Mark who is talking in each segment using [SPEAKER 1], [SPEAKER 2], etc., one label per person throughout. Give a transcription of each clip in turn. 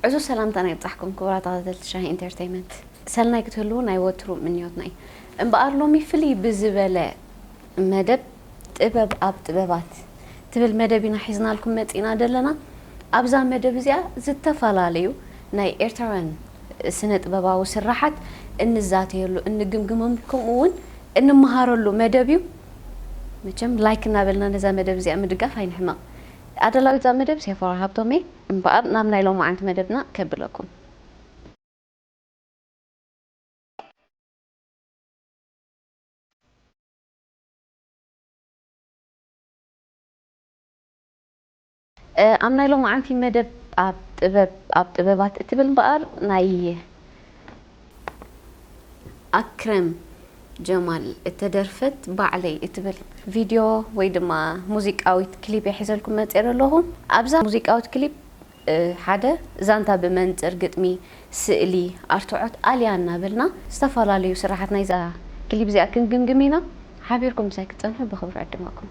[SPEAKER 1] ዕዙዝ ሰላምታና ይብጻሕኩም ክቡራት ተኸታተልቲ ሻሂ ኢንተርተይመንት ሰናይ ክትህልዉ ናይ ወትሩ ምንዮትና እዩ። እምበኣር ሎሚ ፍልይ ብዝበለ መደብ ጥበብ ኣብ ጥበባት ትብል መደብ ኢና ሒዝናልኩም መጺእና ዘለና። ኣብዛ መደብ እዚኣ ዝተፈላለዩ ናይ ኤርትራውያን ስነ ጥበባዊ ስራሓት እንዛተየሉ እንግምግመም ከምኡ እውን እንመሃረሉ መደብ እዩ። መቸም ላይክ እናበልና ነዛ መደብ እዚኣ ምድጋፍ ኣይንሕመቕ። ኣዳላዊት እዛ መደብ ሴፎራ ሃብቶም እየ። እምበኣር ናብ ናይ ሎማዓንቲ መደብና ከብለኩም። ኣብ ናይ ሎማዓንቲ መደብ ኣብ ጥበብ ኣብ ጥበባት እትብል እምበኣር ናይ ኣክረም ጀማል እተደርፈት ባዕለይ እትብል ቪድዮ ወይ ድማ ሙዚቃዊት ክሊፕ እየ ሒዘልኩም መፅኤ ዘለኹ። ኣብዛ ሙዚቃዊት ክሊፕ ሓደ ዛንታ ብመንፅር ግጥሚ፣ ስእሊ፣ ኣርትዖት ኣልያ እናበልና ዝተፈላለዩ ስራሓት ናይዛ ክሊፕ እዚኣ ክንግምግም ኢና። ሓቢርኩም ምሳይ ክትፀንሑ ብኽብሪ እዕድመኩም።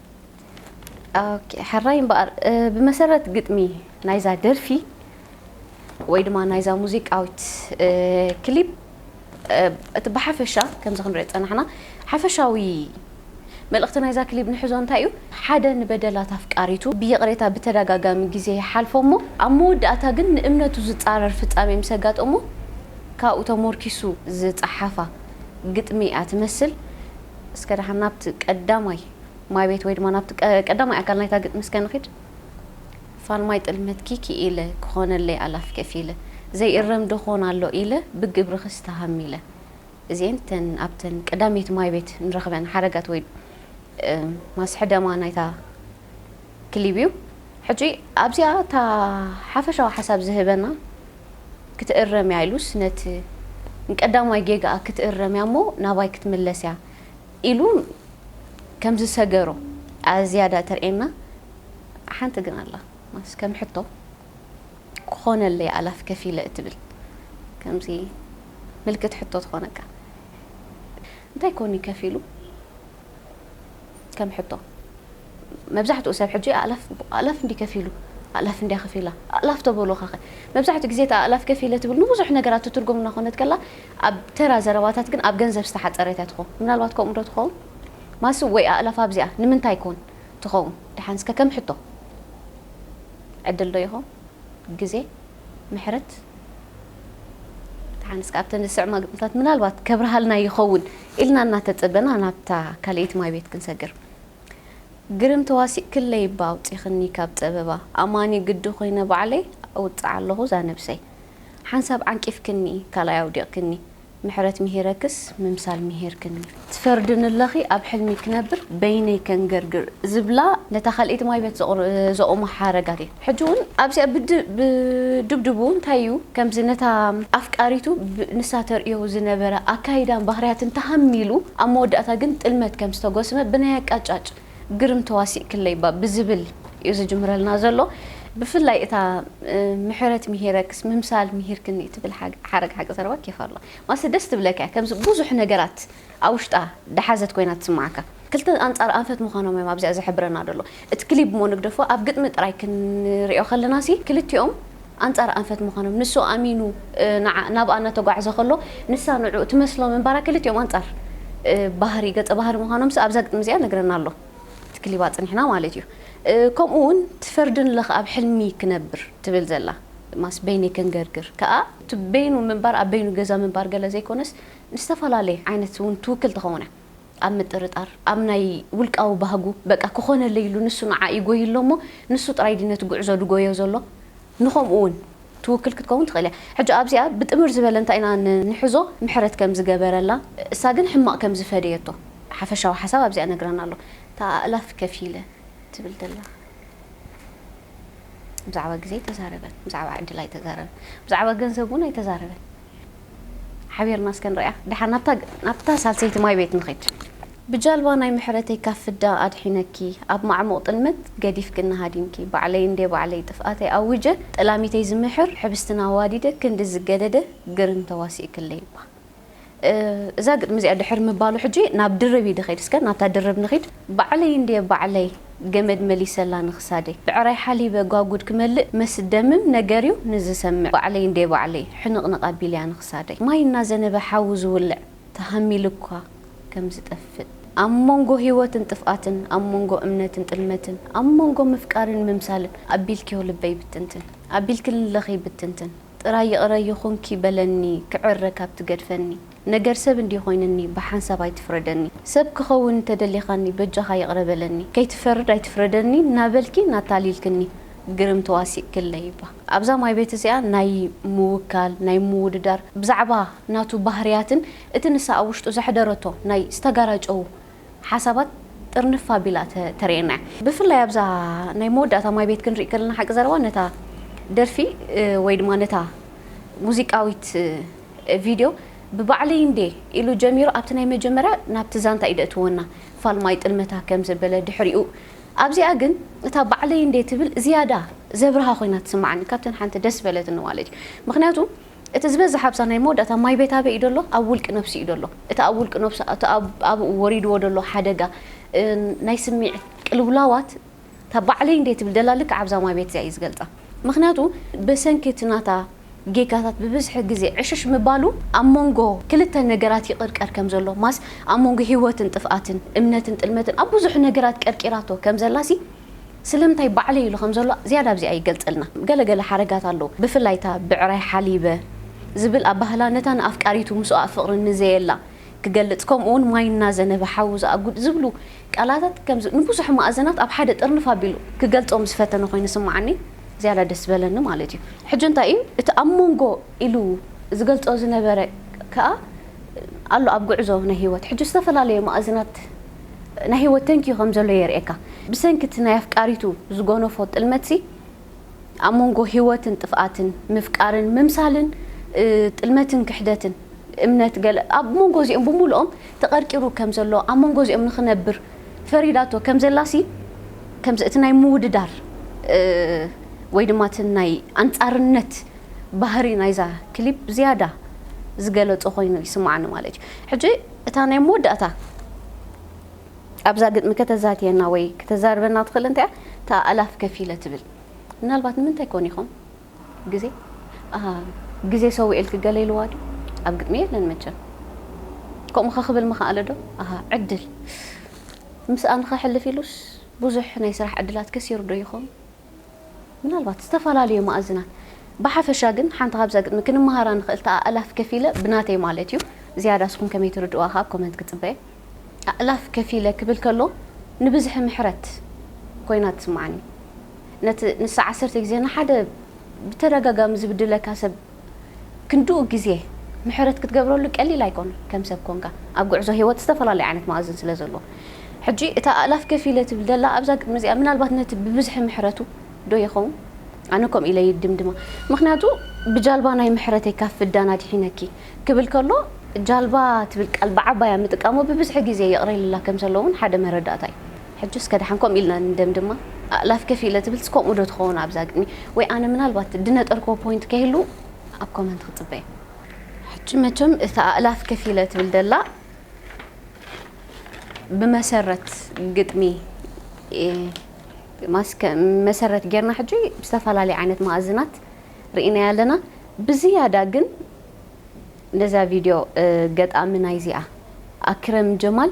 [SPEAKER 1] ኦኬ ሕራይ እምበኣር ብመሰረት ግጥሚ ናይዛ ደርፊ ወይ ድማ ናይዛ ሙዚቃዊት ክሊፕ እቲ ብሓፈሻ ከምዚ ክንሪኦ ዝፀናሕና ሓፈሻዊ መልእኽቲ ናይዛ ክሊብ ንሕዞ እንታይ እዩ ሓደ ንበደላት ኣፍቃሪቱ ብይቕሬታ ብተደጋጋሚ ግዜ ይሓልፎ እሞ ኣብ መወዳእታ ግን ንእምነቱ ዝፃረር ፍፃሜ ምስ ኣጋጠሞ ካብኡ ተሞርኪሱ ዝፀሓፋ ግጥሚ እያ ትመስል እስከ ደሓን ናብቲ ቀዳማይ ማይቤት ወይ ድማ ናብቲ ቀዳማይ ኣካል ናይታ ግጥሚ እስከ ንኺድ። ፋልማይ ጥልመትኪ ክኢለ ክኾነለይ ኣላፍ ከፊለ ዘይእረም ዶ ኾን ኣሎ ኢለ ብግብርኽስ ተሃሚለ። እዚኤን እተን ኣብተን ቀዳመይቲ ማይቤት ንረኽበን ሓረጋት ወይ ማስሕደማ ናይታ ክሊብ እዩ ሕጂ ኣብዚኣ እታ ሓፈሻዊ ሓሳብ ዝህበና ክትእረም እያ ኢሉስ ነቲ ንቀዳማይ ጌጋኣ ክትእረም እያ እሞ ናባይ ክትምለስ እያ ኢሉ ከም ዝሰገሮ እያ ዝያዳ እተርእየና ሓንቲ ግን ኣላ ማስ ከም ሕቶ ክኾነለይ ኣላፍ ከፊለ እትብል ከምዚ ምልክት ሕቶ ትኾነካ እንታይ ኮን እዩ ከፊሉ ከም ሕቶ መብዛሕትኡ ሰብ ሕጂ ኣእላፍ ኣእላፍ እንድዩ ከፊሉ ኣእላፍ እንድያ ከፊላ ኣእላፍ ተበሉኻኸ መብዛሕትኡ ግዜ እቲ ኣእላፍ ከፊለ ትብል ንብዙሕ ነገራት ትትርጎም እናኾነት ከላ ኣብ ተራ ዘረባታት ግን ኣብ ገንዘብ ዝተሓጸረት እያ ትኾን ምናልባት ከምኡ ዶ ትኸውን ማሱ ወይ ኣእላፍ ኣብዚኣ ንምንታይ ኮን ትኸውን ደሓን እስከ ከም ሕቶ ዕድል ዶ ይኾን ግዜ ምሕረት ተሓንስ ካብተን ዝስዕማ ግጥምታት ምናልባት ከብርሃልና ይኸውን ኢልና እናተጸበና ናብታ ካልኣይቲ ማይ ቤት ክንሰግር ግርም ተዋሲእክለይ እባ ኣውጺኽኒ ካብ ጸበባ ኣማኒ ግዲ ኮይነ ባዕለይ እውጽዓ ኣለኹ እዛ ነብሰይ ሓንሳብ ዓንቂፍክኒ ካልኣይ ኣውዲቕክኒ ምሕረት ምሂረክስ ምምሳል ምሂርክኒ። ትፈርድኒ'ለኺ ኣብ ሕልሚ ክነብር በይነይ ከንገርግር ዝብላ ነታ ካልኣይቲ ማይበት ዘቑማ ሓረጋት እየን። ሕጂ'ውን ኣብዚኣ ብድብድቡ እንታይ'ዩ ከምዚ ነታ ኣፍቃሪቱ ንሳ ተርእዮ ዝነበረ ኣካይዳን ባህርያትን ተሃሚሉ ኣብ መወዳእታ ግን ጥልመት ከም ዝተጎስመ ብናይ ኣቃጫጭ ግርም ተዋሲእክለይ እባ ብዝብል እዩ ዝጅምረልና ዘሎ። ብፍላይ እታ ምሕረት ምሂረክስ ምምሳል ምሂርክኒ እትብል ሓረግ ሓቂ ዘረባ ኬፍ ኣሎዋ። ማለትሲ ደስ ትብለካ እያ። ከምዚ ብዙሕ ነገራት ኣብ ውሽጣ ደሓዘት ኮይና ትስመዓካ። ክልተ ኣንጻር ኣንፈት ምዃኖም እዮም ኣብዚኣ ዝሕብረና ዘሎ። እቲ ክሊብ እሞ ንግደፎ ኣብ ግጥሚ ጥራይ ክንሪኦ ከለናሲ ክልቲኦም፣ ኣንጻር ኣንፈት ምዃኖም ንሱ ኣሚኑ ንዓ ናብኣ እናተጓዕዘ ከሎ ንሳ ንዕኡ ትመስሎ ምንባራ ክልቲኦም ኣንጻር ባህሪ ገጸ ባህሪ ምዃኖምስ ኣብዛ ግጥሚ እዚኣ ነግረና ኣሎ እቲ ክሊብ ኣጽኒሕና ማለት እዩ ከምኡ ውን ትፈርድን ለኽ ኣብ ሕልሚ ክነብር ትብል ዘላ ማስ በይነይ ከንገርግር ከኣ እቲ በይኑ ምንባር ኣብ በይኑ ገዛ ምንባር ገለ ዘይኮነስ ንዝተፈላለየ ዓይነት ውን ትውክል ትኸውን እያ። ኣብ ምጥርጣር፣ ኣብ ናይ ውልቃዊ ባህጉ፣ በቃ ክኾነለይ ኢሉ ንሱ ንዓ ይጎዪ ኣሎ እሞ ንሱ ጥራይ ድዩ ነቲ ጉዕዞ ድጎዮ ዘሎ? ንኸምኡ ውን ትውክል ክትከውን ትኽእል እያ። ሕጂ ኣብዚኣ ብጥምር ዝበለ እንታይ ኢና ንሕዞ ምሕረት ከም ዝገበረላ እሳ ግን ሕማቕ ከም ዝፈደየቶ ሓፈሻዊ ሓሳብ ኣብዚኣ ነግረና ኣሎ። እታ ኣእላፍ ከፊለ ትብል ዘላ ብዛዕባ ግዜ ኣይተዛረበን፣ ብዛዕባ ዕድል ኣይተዛረበን፣ ብዛዕባ ገንዘብ ውን ኣይተዛረበን። ሓቢርና እስከ ንርእያ ድሓን ናብታ ናብታ ሳልሰይቲ ማይ ቤት ንኺድ። ብጃልባ ናይ ምሕረተይ ካብ ፍዳ ኣድሒነኪ ኣብ ማዕሙቕ ጥልመት ገዲፍክኒ ሃዲምኪ ባዕለይ እንዴ ባዕለይ ጥፍኣተይ ኣዊጀ ጠላሚተይ ዝምሕር ሕብስትና ኣዋዲደ ክንዲ ዝገደደ ግርም ተዋሲእክለይ'ባ እዛ ግጥሚ እዚኣ ድሕሪ ምባሉ ሕጂ ናብ ድርብ እዩ ድኺድ እስከ ናብታ ድርብ ንኺድ ባዕለይ እንዴ ባዕለይ ገመድ መሊሰላ ንኽሳደይ ብዕራይ ሓሊበ ጓጉድ ክመልእ መስደምም ነገርዩ ንዝሰምዕ ባዕለይ እንዴ ባዕለይ ሕንቕንቕ ኣቢለያ ንኽሳደይ ማይ እናዘነበ ሓዊ ዝውልዕ ተሃሚሉኳ ከም ዝጠፍእ ኣብ ሞንጎ ህይወትን ጥፍኣትን ኣብ ሞንጎ እምነትን ጥልመትን ኣብ ሞንጎ ምፍቃርን ምምሳልን ኣቢልክዮ ልበይ ብትንትን ኣቢልክልለኺ ብትንትን ጥራይ ይቕረ ይኹንኪ በለኒ ክዕረ ካብ ትገድፈኒ ነገር ሰብ እንድየ ኮይነኒ ብሓንሳብ ኣይትፍረደኒ ሰብ ክከውን እንተደሊካኒ በጃካ ይቅረ በለኒ ከይትፈርድ ኣይትፍረደኒ ናበልኪ ናታሊልክኒ ግርም ተዋሲእክለይባ ኣብዛ ማይቤት እዚኣ ናይ ምውካል ናይ ምውድዳር ብዛዕባ ናቱ ባህርያትን እቲ ንሳ ኣብ ውሽጡ ዘሕደረቶ ናይ ዝተጋራጨዉ ሓሳባት ጥርንፍ ኣቢላ ተርእየና እያ ብፍላይ ኣብዛ ናይ መወዳእታ ማይቤት ክንሪኢ ከለና ሓቂ ዘረባ ነታ ደርፊ ወይ ድማ ነታ ሙዚቃዊት ቪድዮ ብባዕለይ እንዴ ኢሉ ጀሚሩ ኣብቲ ናይ መጀመርያ ናብቲ ዛንታ እዩ ደእትዎ እና ፋልማይ ጥልመታ ከም ዘበለ ድሕሪኡ ኣብዚኣ ግን እታ ባዕለይ እንዴ ትብል ዝያዳ ዘብርሃ ኮይና ትስማዓኒ ካብተን ሓንቲ ደስ ዝበለትኒ ማለት እዩ ምክንያቱ እቲ ዝበዝሕ ኣብዛ ናይ መወዳእታ ማይ ቤት ኣበይ እዩ ደሎ ኣብ ውልቂ ነብሱ እዩ ደሎ እቲ ኣብ ውልቂ ነብሱ እቲ ኣብኡ ወሪድዎ ደሎ ሓደጋ ናይ ስሚዕት ቅልውላዋት እታ ባዕለይ እንድየ ትብል ደላ ልክዕ ኣብዛ ማይ ቤት እዚኣ እዩ ዝገልጻ ምክንያቱ በሰንኪ እቲ ናታ ጌጋታት ብብዝሒ ግዜ ዕሽሽ ምባሉ ኣብ ሞንጎ ክልተ ነገራት ይቅርቀር ከም ዘሎ ማስ ኣብ ሞንጎ ሂወትን ጥፍኣትን እምነትን ጥልመትን ኣብ ብዙሕ ነገራት ቀርቂራቶ ከም ዘላ ሲ ስለምንታይ ባዕለይ ኢሉ ከም ዘሎ ዝያዳ ኣብዚኣ ይገልጸልና ገለ ገለ ሓረጋት ኣለዉ ብፍላይ እታ ብዕራይ ሓሊበ ዝብል ኣባህላ ነታ ንኣፍቃሪቱ ምስኦኣ ፍቅሪ ንዘየላ ክገልጽ ከምኡ ውን ማይ እናዘነበ ሓዊ ዝኣጉድ ዝብሉ ቃላታት ከምዚ ንብዙሕ ማእዘናት ኣብ ሓደ ጥርንፍ ኣቢሉ ክገልጾ ምስ ፈተነ ኮይኑ ዝስምዓኒ ዝያዳ ደስ ዝበለኒ ማለት እዩ። ሕጂ እንታይ እዩ እቲ ኣብ ሞንጎ ኢሉ ዝገልጾ ዝነበረ ከኣ ኣሎ ኣብ ጉዕዞ ናይ ህይወት ሕጂ ዝተፈላለየ ማእዝናት ናይ ህይወት ተንኪዩ ከም ዘሎ የርእየካ። ብሰንኪ እቲ ናይ ኣፍቃሪቱ ዝጎነፎ ጥልመትሲ፣ ኣብ መንጎ ህይወትን ጥፍኣትን፣ ምፍቃርን ምምሳልን፣ ጥልመትን ክሕደትን፣ እምነት ገለ፣ ኣብ መንጎ እዚኦም ብምሉኦም ተቐርቂሩ ከም ዘሎ፣ ኣብ መንጎ እዚኦም ንኽነብር ፈሪዳቶ ከም ዘላሲ፣ ከምዚ እቲ ናይ ምውድዳር ወይ ድማ እቲ ናይ ኣንጻርነት ባህሪ ናይዛ ክሊፕ ዝያዳ ዝገለጾ ኮይኑ ይስምዓኒ ማለት እዩ። ሕጂ እታ ናይ መወዳእታ። ኣብዛ ግጥሚ ከተዛትየና ወይ ክተዛርበና ትኽእል እንተያ እታ ኣእላፍ ከፊለ ትብል ምናልባት ንምንታይ ኮን ኢኹም ግዜ ኣሃ ግዜ ሰዊኤልኪ ገለ ኢልዋ ዶ ኣብ ግጥሚ የለን መቸም ከምኡ ከክብል ምኸኣለ ዶ ኣሃ ዕድል ምስኣ ንኸሕልፍ ኢሉስ ብዙሕ ናይ ስራሕ ዕድላት ከሲሩ ዶ ይኾን ምናልባት ዝተፈላለዩ መኣዝናት ብሓፈሻ ግን ሓንቲ ካብዛ ግጥሚ ክንመሃራ ንኽእል ተኣእላፍ ከፊለ ብናተይ ማለት እዩ ዝያዳ እስኹም ከመይ ትርድእዋ ከኣ ኣብ ኮመንት ክጽበ እየ ኣእላፍ ከፊለ ክብል ከሎ ንብዝሒ ምሕረት ኮይና ትስምዓኒ ነቲ ንሳ ዓሰርተ ግዜ ንሓደ ብተደጋጋሚ ዝብድለካ ሰብ ክንድኡ ግዜ ምሕረት ክትገብረሉ ቀሊል ኣይኮነን ከም ሰብ ኮንካ ኣብ ጉዕዞ ሂወት ዝተፈላለዩ ዓይነት መኣዝን ስለ ዘሎ ሕጂ እታ ኣእላፍ ከፊለ ትብል ዘላ ኣብዛ ግጥሚ እዚኣ ምናልባት ነቲ ብብዝሒ ምሕረቱ ዶ ይኸውን ኣነ ከምኡ ኢለ ይድምድማ ምኽንያቱ ብጃልባ ናይ ምሕረተይ ካብ ፍዳን ኣድሒነኪ ክብል ከሎ ጃልባ ትብል ቃል ብዓባያ ምጥቃሙ ብብዝሒ ግዜ ይቕረ ኢልላ ከም ዘሎ እውን ሓደ መረዳእታ እዩ ሕጅስ ከድሓንኮም ኢልና ንደምድማ። ኣእላፍ ከፍ ኢለ ትብልስ ከምኡ ዶ ትኸውን ኣብዛ ግጥሚ ወይ ኣነ ምናልባት ድነጠርክዎ ፖይንት ከይህሉ ኣብ ኮመንት ክጽበይ። ሕጂ መቸም እታ ኣእላፍ ከፍ ኢለ ትብል ደላ ብመሰረት ግጥሚ ማስከ መሰረት ጌርና ሕጂ ብዝተፈላለየ ዓይነት መኣዝናት ርኢናያ ኣለና ብዝያዳ ግን ነዛ ቪድዮ ገጣሚ ናይዚኣ ኣክረም ጀማል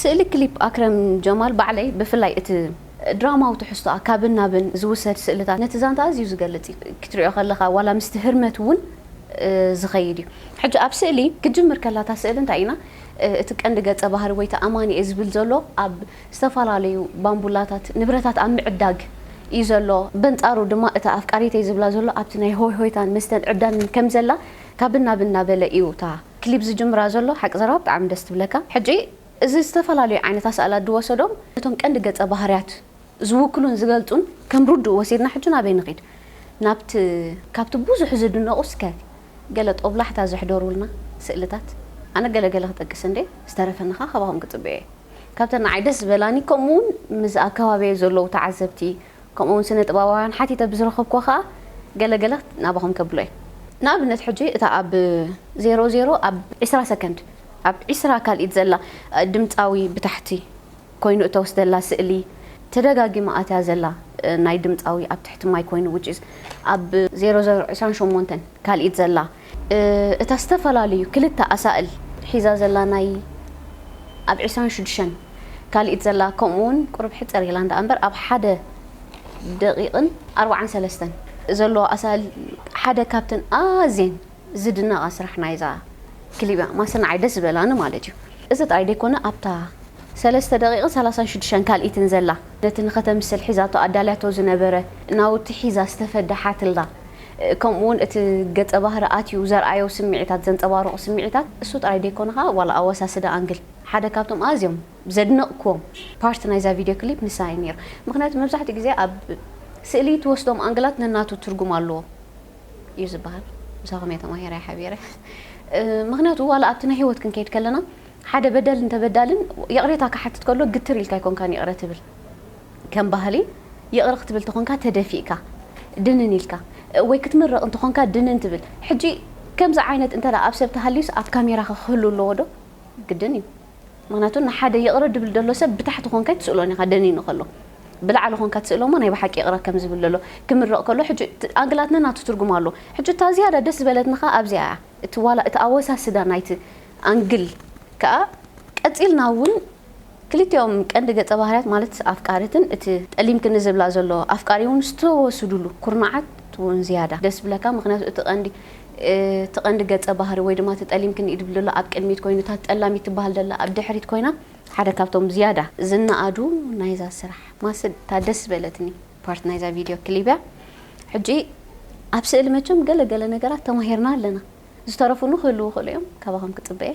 [SPEAKER 1] ስእሊ ክሊፕ ኣክረም ጀማል ባዕለይ ብፍላይ እቲ ድራማዊ ትሕዝቶኣ ካብን ናብን ዝውሰድ ስእልታት ነቲ ዛንታ ኣዝዩ ዝገልጽ እዩ። ክትሪኦ ከለኻ ዋላ ምስቲ ህርመት እውን ዝኸይድ እዩ። ሕጂ ኣብ ስእሊ ክትጅምር ከላ እታ ስእሊ እንታይ ኢና እቲ ቀንዲ ገጸ ባህሪ ወይ እቲ ኣማኒኤ ዝብል ዘሎ ኣብ ዝተፈላለዩ ባንቡላታት፣ ንብረታት ኣብ ምዕዳግ እዩ ዘሎ። በንጻሩ ድማ እታ ኣፍቃሪተይ ዝብላ ዘሎ ኣብቲ ናይ ሆይ ሆይታን መስተን ዕብዳንን ከም ዘላ ካብን ናብን እናበለ እዩ እታ ክሊብ ዝጅምራ ዘሎ። ሓቂ ዘረባ ብጣዕሚ ደስ ትብለካ። ሕጂ እዚ ዝተፈላለዩ ዓይነት ኣሳእላት ዝወሰዶም ነቶም ቀንዲ ገጸ ባህርያት ዝውክሉን ዝገልጹን ከም ርዱእ ወሲድና ሕጂ ናበይ ንኺድ ናብቲ ካብቲ ብዙሕ ዝድነቑ እስከ ገለ ጦብላሕታ ዘሕደሩልና ስእልታት ኣነ ገለ ገለ ክጠቅስ እንድየ ዝተረፈኒ ከኣ ካባኹም ክጽበ እየ። ካብተን ንዓይ ደስ ዝበላኒ ከምኡ ውን ምስ ኣብ ከባቢየይ ዘለዉ ተዓዘብቲ ከምኡ ውን ስነ ጥበባውያን ሓቲተ ብዝረኸብኩዎ ከኣ ገለ ገለ ናባኹም ከብሎ እየ ንኣብነት ሕጂ እታ ኣብ ዜሮ ዜሮ ኣብ ዕስራ ሰከንድ ኣብ ዕስራ ካልኢት ዘላ ድምጻዊ ብታሕቲ ኮይኑ እተወስደላ ስእሊ ተደጋጊማ ኣትያ ዘላ ናይ ድምጻዊ ኣብ ትሕቲ ማይ ኮይኑ which is ኣብ ዜሮ ዜሮ ዕስራን ሸሞንተን ካልኢት ዘላ እታ ዝተፈላለዩ ክልተ ኣሳእል ሒዛ ዘላ ናይ ኣብ ዕስራን ሽዱሽተን ካልኢት ዘላ ከምኡ ውን ቁሩብ ሕጽር ኢላ እንዳ ኣምበር ኣብ ሓደ ደቂቅን ኣርብዓን ሰለስተን ዘለዎ ኣሳእል ሓደ ካብተን ኣዝየን ዝድነቃ ስራሕ ናይዛ ክሊብ እያ ማሰናዓይ ደስ ዝበላኒ ማለት እዩ እዚ ጥራይ ደይኮነ ኣብታ ሰለስተ ደቂቅን ሰላሳን ሽዱሽተን ካልኢትን ዘላ ነቲ ንኸተምስል ሒዛቶ ኣዳልያቶ ዝነበረ ናውቲ ሒዛ ዝተፈደሓትላ ከምኡ ውን እቲ ገጸ ባህሪ ኣትዩ ዘርኣዮ ስምዒታት ዘንጸባርቑ ስምዒታት እሱ ጥራይ ደይኮነ ከኣ ዋላ ኣወሳስዳ ኣንግል ሓደ ካብቶም ኣዝዮም ዘድነቕክዎም ፓርት ናይዛ ቪድዮ ክሊፕ ንሳ እዩ ኔሩ ምኽንያቱ መብዛሕትኡ ግዜ ኣብ ስእሊ ትወስዶም ኣንግላት ነናቱ ትርጉም ኣለዎ እዩ ዝብሃል ምሳኹም እየ ተማሂረ ሓቢረ ምኽንያቱ ዋላ ኣብቲ ናይ ህይወት ክንከይድ ከለና ሓደ በደልን ተበዳልን ይቕሬታ ክሓትት ከሎ ግትር ኢልካ ኣይኮንካን ይቕረ ትብል ከም ባህሊ ይቕረ ክትብል ተኾንካ ተደፊእካ ድንን ኢልካ ወይ ክትምርቕ እንተኾንካ ድንን ትብል ሕጂ ከምዚ ዓይነት እንተ ኣብ ሰብ ተሃልዩስ ኣብ ካሜራኸ ክህሉ ኣለዎ ዶ ግድን እዩ ምኽንያቱ ንሓደ ይቕረ ድብል ደሎ ሰብ ብታሕቲ ኮንካ ኣይትስእሎን ኢኻ ደኒኑ ከሎ ብላዕሊ ኮንካ ትስእሎ እሞ ናይ ብሓቂ ይቕረ ከም ዝብል ደሎ ክምርቕ ከሎ ሕጂ ኣንግላት ነናቱ ትርጉም ኣለዎ ሕጂ እታ ዝያዳ ደስ ዝበለትኒ ከኣ ኣብዚኣ እያ እቲ ዋላ እቲ ኣወሳስዳ ናይቲ ኣንግል ከኣ ቀጺልና ውን ክልቲኦም ቀንዲ ገጸ ባህርያት ማለት ኣፍቃሪትን እቲ ጠሊምክኒ ዝብላ ዘሎ ኣፍቃሪ ውን ዝተወስድሉ ኩርናዓት ውን ዝያዳ ደስ ይብለካ ምኽንያቱ እቲ ቀንዲ እቲ ቀንዲ ገጸ ባህሪ ወይ ድማ እቲ ጠሊምክኒ ድብል ዘሎ ኣብ ቅድሚት ኮይኑ እታ ጠላሚት ትብሃል ዘላ ኣብ ድሕሪት ኮይና ሓደ ካብቶም ዝያዳ ዝነኣዱ ናይዛ ስራሕ ማስድ እታ ደስ ዝበለትኒ ፓርት ናይዛ ቪድዮ ክሊብ እያ ሕጂ ኣብ ስእሊ መቸም ገለ ገለ ነገራት ተማሂርና ኣለና ዝተረፉ ን ክህልዉ ይኽእሉ እዮም ካባኹም ክጽበ እየ።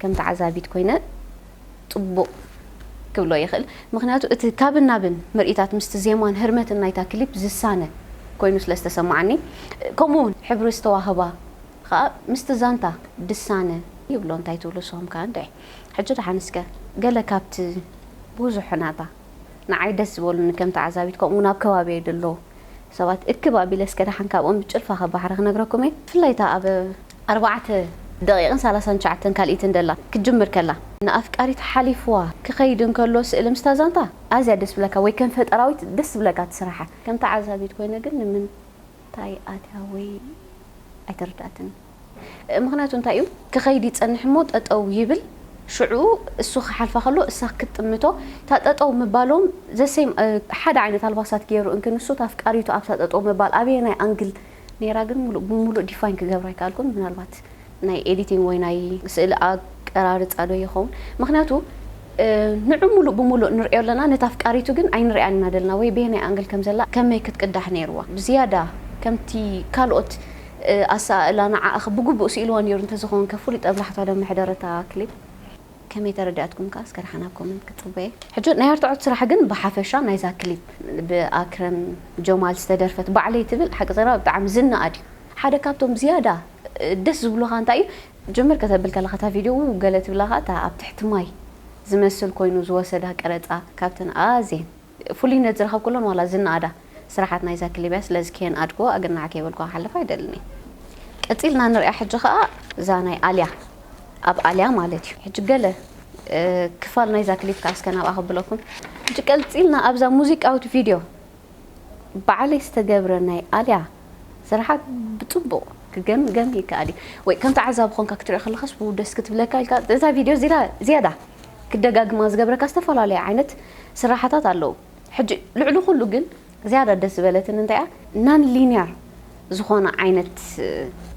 [SPEAKER 1] ከም ተዓዛቢት ኮይነ ጽቡቕ ክብሎ ይኽእል ምኽንያቱ እቲ ካብን ናብን ምርኢታት ምስቲ ዜማን ህርመትን ናይታ ክሊፕ ዝሳነ ኮይኑ ስለ ዝተሰማዓኒ ከምኡ ውን ሕብሪ ዝተዋህባ ኸኣ ምስቲ ዛንታ ድሳነ ይብሎ እንታይ ትብሉ ንስኹም ከ እንድዒ ሕጂ ድሓን እስከ ገለ ካብቲ ቡዙሑ ናታ ንዓይ ደስ ዝበሉኒ ከም ተዓዛቢት ከምኡ ውን ኣብ ከባቢየይ ደለዉ ሰባት እክብ ኣቢለ እስከ ድሓን ካብኦም ብጭልፋ ካብ ባሕሪ ክነግረኩም እየ ብፍላይ እታ ኣብ ኣርባዕተ ደቒቕን ሳላሳን ትሽዓተን ካልኢትን ደላ ክትጅምር ከላ ንኣፍቃሪት ሓሊፍዋ ክኸይድ እንከሎ ስእሊ ምስታ ዛንታ ኣዝያ ደስ ብለካ ወይ ከም ፈጠራዊት ደስ ዝብለካ እቲ ስራሓ። ከም ተዓዛቢት ኮይነ ግን ንምንታይ ኣትያ ወይ ኣይተረድኣትንን ምኽንያቱ እንታይ እዩ ክኸይድ ይጸንሕ እሞ ጠጠው ይብል ሽዑ እሱ ክሓልፋ ከሎ እሳ ክትጥምቶ እታ ጠጠው ምባሎም ዘሰይም ሓደ ዓይነት ኣልባሳት ጌሩ እንክ ንሱ እታ ኣፍቃሪቱ ኣብታ ጠጠው ምባል ኣበየናይ ኣንግል ነይራ ግን ሙሉእ ብሙሉእ ዲፋይን ክገብራ ኣይከኣልኩን ምናልባት ናይ ኤዲቲንግ ወይ ናይ ስእሊ ኣቀራርፃ ዶ ይኸውን ምክንያቱ ንዑ ሙሉእ ብሙሉእ ንሪኦ ኣለና ነታ ኣፍቃሪቱ ግን ኣይንሪኣን ኢና ዘለና ወይ በየናይ ኣንግል ከም ዘላ ከመይ ክትቅዳሕ ነይርዋ ብዝያዳ ከምቲ ካልኦት ኣሰኣእላ ንዓኣ ብግቡእ ስኢልዋ ነይሩ እንተዝኸውን ከ ፍሉይ ጠብላሕታ ዶ ምሕደረ እታ ክሊፕ ከመይ ተረዲኣትኩም ከኣ እስከ ዳሓን ኣብ ኮመንት ክጽበየ። ሕጂ ናይ ኣርትዖት ስራሕ ግን ብሓፈሻ ናይዛ ክሊፕ ብ ኣክረም ጀማል ዝተደርፈት ባዕለይ ትብል ሓቂ ዘረባ ብጣዕሚ ዝነኣድ እዩ ሓደ ካብቶም ዝያዳ ደስ ዝብሉኻ እንታይ እዩ ጅምር ከተብል ከለኻ እታ ቪድዮ ዉው ገለ ትብላ ከኣ እታ ኣብ ትሕቲ ማይ ዝመስል ኮይኑ ዝወሰዳ ቀረጻ ካብተን ኣዜን ፍሉይነት ዝረኸብኩለን ዋላ ዝነኣዳ ስራሓት ናይ ዛኪ ሊብያ ስለዚ ከየንኣድክዎ ኣገናዕ ከይበልኩ ክሓልፍ ኣይደልን እየ። ቀጺልና ንሪኣ ሕጂ ከኣ እዛ ናይ ኣልያ ኣብ ኣልያ ማለት እዩ ሕጂ ገለ ክፋል ናይዛ ክሊፕ ከኣ እስከ ናብኣ ከብለኩም። ሕጂ ቀልጺልና ኣብዛ ሙዚቃዊት ቪድዮ ባዕለይ ዝተገብረ ናይ ኣልያ ስራሓት ብጽቡቕ ክገምገም ይከኣል እዩ ወይ ከም ተዓዛቢ ኮንካ ክትሪኦ ከለኻስ ዉው ደስ ክትብለካ ኢልካ እዛ ቪድዮ ዝያዳ ክደጋግማ ዝገብረካ ዝተፈላለዩ ዓይነት ስራሓታት ኣለዉ ሕጂ ልዕሊ ኩሉ ግን ዝያዳ ደስ ዝበለትን እንታይ እያ ናን ሊንያር ዝኾነ ዓይነት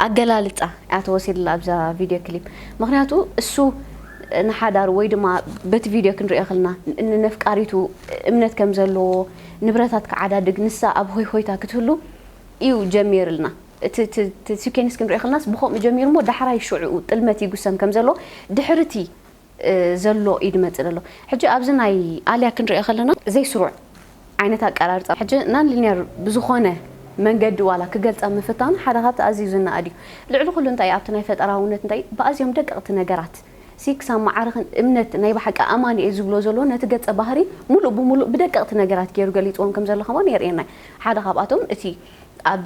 [SPEAKER 1] ኣገላልጻ እያ ተወሲድላ ኣብዛ ቪድዮ ክሊፕ ምክንያቱ እሱ ንሓዳሩ ወይ ድማ በቲ ቪድዮ ክንሪኦ ከለና ንነፍቃሪቱ እምነት ከም ዘለዎ ንብረታት ክዓዳድግ ንሳ ኣብ ሆይሆይታ ክትህሉ እዩ ጀሚርልና እቲ ሲኬንስ ክንሪኦ ከለናስ ብከምኡ ጀሚሩ እሞ ዳሕራይ ሽዑኡ ጥልመት ይጉሰም ከም ዘሎ ድሕሪ እቲ ዘሎ ኢዩ ድመጽእ ደሎ ሕጂ ኣብዚ ናይ ኣልያ ክንሪኦ ከለና ዘይ ስሩዕ ዓይነት ኣቀራርጻ ሕጂ ናን ሊንያር ብዝኮነ መንገዲ ዋላ ክገልጻ ምፍታኑ ሓደ ካብቲ ኣዝዩ ዝናኣድ ኢዩ ልዕሊ ኩሉ እንታይ ኣብቲ ናይ ፈጠራውነት እንታይ ብኣዝዮም ደቀቅቲ ነገራት ሲ ክሳብ መዓርክን እምነት ናይ ብሓቂ ኣማኒ ኢየ ዝብሎ ዘሎ ነቲ ገጸ ባህሪ ሙሉእ ብሙሉእ ብደቀቅቲ ነገራት ጌሩ ገሊጽዎም ከም ዘሎ ከማን የርእየና ኢዩ ሓደ ካብኣቶም እቲ ኣብ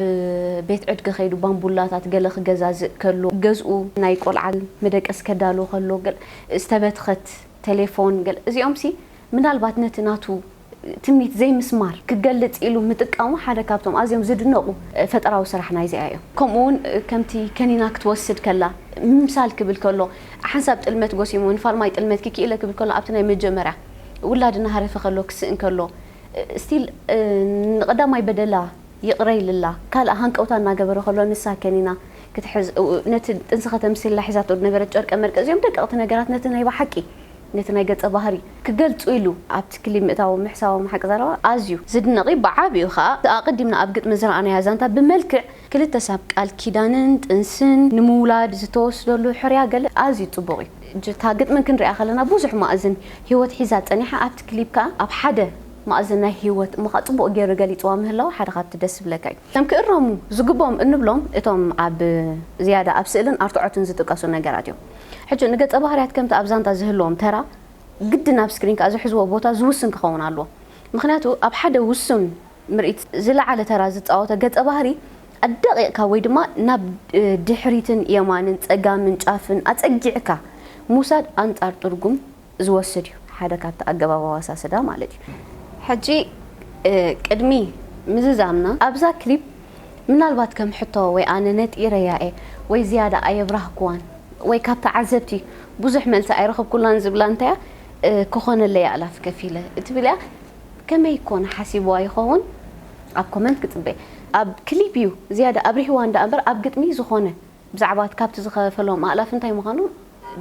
[SPEAKER 1] ቤት ዕድገ ከይዱ ባምቡላታት ገለ ክገዛዝእ ከሎ፣ ገዝኡ ናይ ቆልዓ መደቀሲ ከዳሉ ከሎ፣ ገለ ዝተበትኸት ተሌፎን ገለ እዚኦምሲ ምናልባት ነቲ ናቱ ትምኒት ዘይምስማር ክገልጽ ኢሉ ምጥቃሙ ሓደ ካብቶም ኣዝዮም ዝድነቑ ፈጠራዊ ስራሕ ናይዚኣ እዮም። ከምኡውን ከምቲ ከኒና ክትወስድ ከላ ምምሳል ክብል ከሎ ሓንሳብ ጥልመት ጎሲሙ ንፋልማይ ጥልመት ክኪኢለ ክብል ከሎ ኣብቲ ናይ መጀመርያ ውላድ እናሃረፈ ከሎ ክስእን ከሎ Still ንቀዳማይ በደላ ይቅረ ኢልላ ካልእ ሃንቀውታ እናገበረ ከሎ ንሳ ከኒና ክትሕዝ ነቲ ጥንሲ ከተምስየላ ሒዛቶ ዝነበረት ጨርቀ መርቀ እዚኦም ደቀቅቲ ነገራት ነቲ ናይ በሓቂ ነቲ ናይ ገጸ ባህሪ ክገልጹ ኢሉ ኣብቲ ክሊብ ምእታዎም ምሕሳቦም ሓቂ ዘረባ ኣዝዩ ዝድነቅ እዩ ብዓቢኡ ከኣ ኣቀዲምና ኣብ ግጥሚ ዝረኣናያ ዛንታ ብመልክዕ ክልተ ሰብ ቃል ኪዳንን ጥንስን ንምውላድ ዝተወስደሉ ሕርያ ገለ ኣዝዩ ጽቡቕ እዩ። እታ ግጥሚ ክንሪኣ ከለና ብዙሕ ማእዝን ሂወት ሒዛ ጸኒሓ ኣብቲ ክሊፕ ከኣ ኣብ ሓደ ማእዝን ናይ ሂወት እሞከኣ ጽቡቕ ጌሩ ገሊጽዋ ምህላዉ ሓደ ካብቲ ደስ ዝብለካ እዩ። እቶም ክእረሙ ዝግብኦም እንብሎም እቶም ኣብ ዝያዳ ኣብ ስእልን ኣርትዖትን ዝጥቀሱ ነገራት እዮም። ሕጂ ንገጸ ባህርያት ከምቲ ኣብ ዛንታ ዝህልዎም ተራ ግድን ኣብ ስክሪን ከኣ ዝሕዝዎ ቦታ ዝውስን ክኸውን ኣለዎ። ምኽንያቱ ኣብ ሓደ ውሱን ምርኢት ዝለዓለ ተራ ዝጻወተ ገጸ ባህሪ ኣዳቂቅካ ወይ ድማ ናብ ድሕሪትን የማንን ጸጋምን ጫፍን ኣጸጊዕካ ምውሳድ ኣንጻር ጥርጉም ዝወስድ እዩ ሓደ ካብቲ ኣገባብ ኣዋሳስዳ ማለት እዩ። ሕጂ ቅድሚ ምዝዛምና ኣብዛ ክሊፕ ምናልባት ከም ሕቶ ወይ ኣነ ነጢረያ እየ ወይ ዝያዳ ኣየብራህኩዋን ወይ ካብ ተዓዘብቲ ብዙሕ መልሲ ኣይረኸብኩላን ዝብላ እንተያ ክኾነለይ ኣእላፍ ከፊለ እትብል እያ። ከመይ ኮን ሓሲብዋ ይኸውን ኣብ ኮመንት ክጽበ። ኣብ ክሊፕ እዩ ዝያዳ ኣብሪህዋን ደኣ እምበር ኣብ ግጥሚ ዝኾነ ብዛዕባ እቲ ካብቲ ዝኸፈሎም ኣእላፍ እንታይ ምዃኑ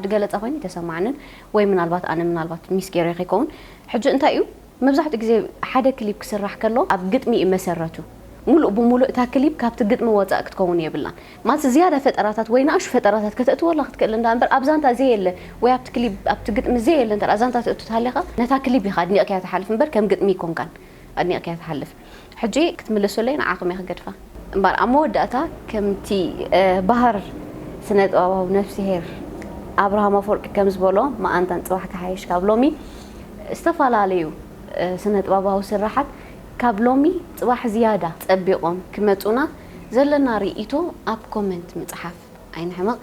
[SPEAKER 1] ድገለጸ ኮይኑ ኣይተሰማዓንን ወይ ምናልባት ኣነ ምናልባት ሚስ ጌረዮ ከይከውን ሕጂ እንታይ እዩ መብዛሕትኡ ግዜ ሓደ ክሊፕ ክስራሕ ከሎ ኣብ ግጥሚ እዩ መሰረቱ ሙሉእ ብሙሉእ እታ ክሊፕ ካብቲ ግጥሚ ወጻእ ክትከውን የብላን ማለት ዝያዳ ፈጠራታት ወይ ንኣሽቱ ፈጠራታት ከተእትወላ ክትክእል እንዳ እምበር ኣብ ዛንታ ዘየለ ወይ ኣብቲ ክሊብ ኣብቲ ግጥሚ ዘየለ እንተ ደኣ ዛንታ ተእቱ ተሃሊኻ ነታ ክሊብ ኢኻ ኣድኒቕካያ ትሓልፍ እምበር ከም ግጥሚ ኣይኮንካን ኣድኒቕካያ ትሓልፍ ሕጂ ክትምልሱለይ ንዓኹም እየ ክገድፋ እምበር ኣብ መወዳእታ ከምቲ በሃር ስነ ጥበባዊ ነፍስሄር ኣብርሃም ኣፎርቂ ከም ዝበሎ መኣንታን ጽባሕ ክሓይሽ ካብ ሎሚ ዝተፈላለዩ ስነ ጥበባዊ ስርሓት ካብ ሎሚ ጽባሕ ዝያዳ ጸቢቖም ክመጹና ዘለና ሪኢቶ ኣብ ኮመንት ምጽሓፍ ኣይንሕመቅ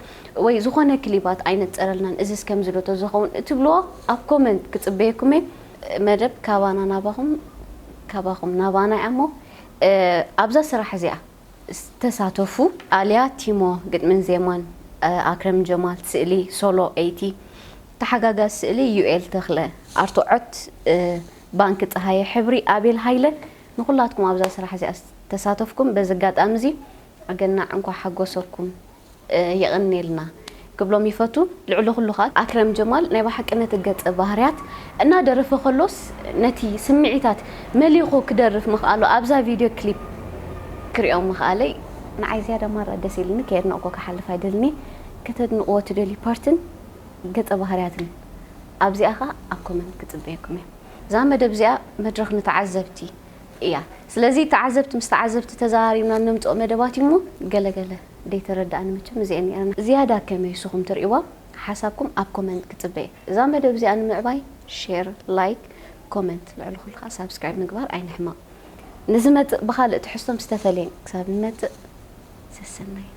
[SPEAKER 1] ወይ ዝኮነ ክሊባት ኣይነጽረልናን እዚስ ከምዚ ዶ ተዝከውን እትብልዎ ኣብ ኮመንት ክጽበየኩም እየ መደብ ካባና ናባኩም ካባኩም ናባና እያ እሞ ኣብዛ ስራሕ እዚኣ ተሳተፉ። ኣልያ ቲሞ ግጥምን ዜማን ኣክረም ጀማል ስእሊ ሶሎ ኤይቲ ተሓጋጋዚ ስእሊ ዩኤል ተክለ ኣርትዖት ባንኪ ጸሃየ ሕብሪ ኣቤል ሃይለ ንኹላትኩም ኣብዛ ስራሕ እዚኣ ዝተሳተፍኩም በዚ ኣጋጣሚ እዚ ኣገናዕ እንኳዕ ሓጎሰኩም የቐንየልና ክብሎም ይፈቱ። ልዕሊ ኩሉ ከኣ ኣክረም ጀማል ናይ በሓቂ ነቲ ገጸ ባህርያት እና ደረፈ ከሎስ ነቲ ስምዒታት መሊኹ ክደርፍ ምኽኣሉ ኣብዛ ቪድዮ ክሊፕ ክሪኦ ምኽኣለይ ንዓይ ዝያዳ ማራ ደስ ኢልኒ ከየድነቕኩ ክሓልፍ ኣይደልን'የ ከተድንቕዎ ትደልዩ ፓርትን ገጸ ባህርያትን ኣብዚኣ ከኣ ኣብ ኮመንት ክጽበየኩም'የ። እዛ መደብ እዚኣ መድረኽ ንተዓዘብቲ እያ ስለዚ ተዓዘብቲ ምስ ተዓዘብቲ ተዘራሪብና እነምጽኦ መደባት እዩ እሞ ገለ ገለ ደይተረዳእኒ መቸም እዚኤን ኔረን ዝያዳ ከመይ ንስኹም ትርእይዋ ሓሳብኩም ኣብ ኮመንት ክጽበ እየ እዛ መደብ እዚኣ ንምዕባይ ሼር ላይክ ኮመንት ልዕሊ ኩሉ ከኣ ሳብስክራይብ ምግባር ኣይንሕመቕ ንዝመጽእ ብኻልእ ትሕዝቶ ምስ ተፈልየን ክሳብ ንመጽእ ሰሰናዩ።